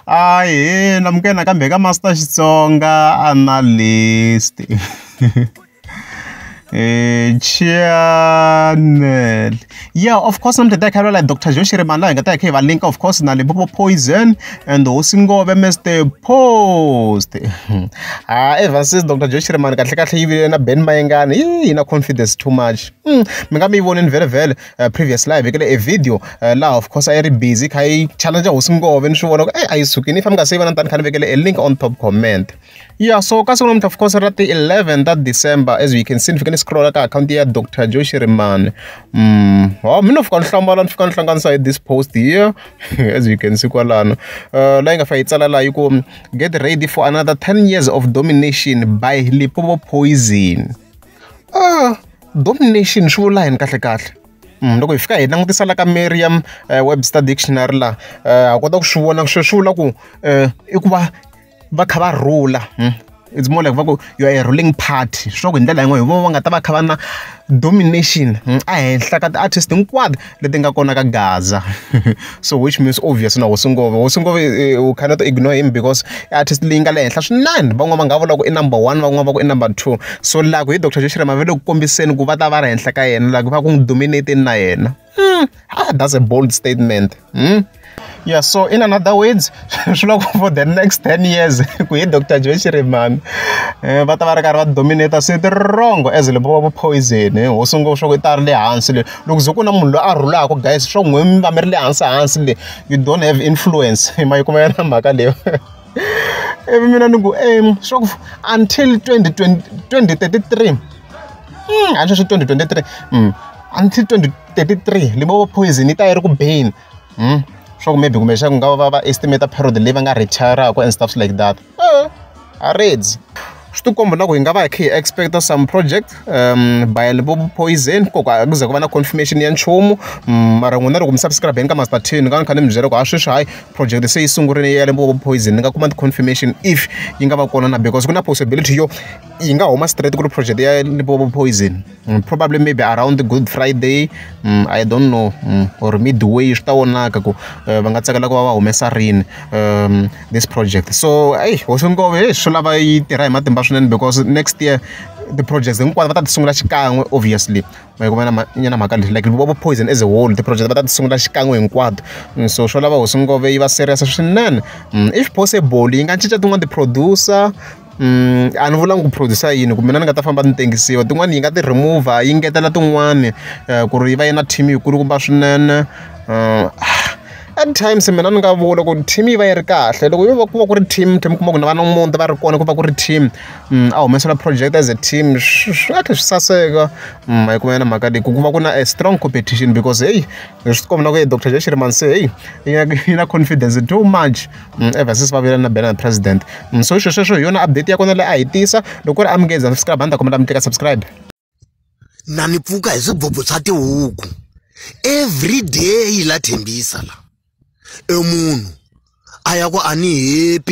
Ahee Lamukela nakambe eka Master Xitsonga Analyst channel yeah of course na mutata khalwa like dr joshi rimani laha hi nga ta hi kha hi va linka of course na limpopo poison and hosi ngove mr post ha ever since dr joshi rimani kahle kahle yi vile na ben mayengani yi na confidence too much mi nga mi yi voneni vhele vhele uh, previous live hi kele e video uh, laha of course a yi ri busy kha yi challenge hosi ngove ni swi vona ku ey a yi sukini if a mi nga se yi vona tani kha ni vekele a link on top comment ya so ka siku namuntlha of course ra ti 11 ta december as you can see ni fike ni scrolla ka akhawunti ya dr joshi rimani mm, wa mi no fika ni hlambala ni fika ni hlanganisa hi this post here as you can see kwalano uh, la yi nga fa yi tsala laha yi ku get ready for another 10 years of domination by lipobo poison Domination swi vula yini kahlekahle? Loko hi fika hi langutisa la ka Merriam Webster Dictionary laha ha kota ku swi vona swi swi vula ku i ku va va kha va rhula it's more like va ku you are a ruling party swi vula ku hi ndlela yin'wani hi vona va nga ta va kha va na domination ehenhla ka ti-artist hinkwato leti nga kona ka gaza so which means obvious na hosi ngoma hosi ngoma u cannot ignore him because i artist leyi nga le henhla swinene van'wana va nga vula ku i number one van'wana va ku i number two so laha ku hi doctor joshua mavele ku kombiseni ku va ta va ri henhla ka yena laha ku va ku n'wi dominate-ni na yena hmm, ah, that's a bold statement hmm? Yeah, so in another words, for the next 10 years, we Dr. Joy Chiremami, eh, va ta va ri karhi va dominata switirongo as le va poison eh, ho sungula swa ku ta ri le hansi le loko ze ku na munhu loyi a rhulaka guys swa n'wi mi va mi ri le hansi hansi le you don't have influence hi ma yi kuma yona mhaka leyo ivi eh, mina ni ku em swa ku until 2033 hmm, a swi swi 2023 hmm, until 2033 libovo poison yi ta yi ri ku beni swa ku maybe kumbexana ku nga va va va estimate period leyi va nga retire-aka and stuff like that a reds swi tikomba na ku hi nga va hi kha hi expect some project um by vo poison ko ka ku ze ku va na confirmation ya nchumu mm, mara n'wina loko mi subscribeni ka master ten ni nga ni kha ni mi byela ku ha sweswi hayi project se yi sungurile ya lembo vo poison ni nga kuma ti-confirmation if yi nga va kona na because ku na possibility yo yi nga huma straight ku ri project ya limbo vo poison Mm, probably maybe around good friday mm, i don't know mm, or midway swi ta vonaka ku eh, va nga tsakela ku va va humesa rini um, this project so eyi hosongove hey, swi lava yi tirha hi matimba swinene because next year ti-projects hinkwato va ta ti sungula xikan'we obviously nyana mhaka leyi like vo poison as a whole ti-project va ta ti sungula xikan'we hinkwato so swo lava hosongove yi va serious swinene if possible yi nga cinca tin'wana ti-producer a ni vulanga ku produce yini kumbe na ni nga ta famba ni tengisiwa tin'wani yi nga ti remover yi ngetela tin'wani ku ri yi va yi na team yi kulukumba swinene at times mina ni nga vula ku team yi va yi ri kahle loko yo va ku va ku ri team mi kuma ku na va na muti va ri kona ku va ku ri team a humesela project as a team swi swi nga tlhela swi saseka ma yi kuma yona mhaka leyi ku ku va ku na a strong competition because heyi hi swi tikomba na ku doctor J Shirimani se heyi yi na confidence too much. ever since va vile na banner na president so hi swo sweswo hi yona update ya kona leyi a hi tisa loko ku ri a mi nge za subscribe a ni ta kombela mi teka subscribe na ni pfuka hi swibobho swa tihuku every day la thembisa la e munhu a ya ku a ni happy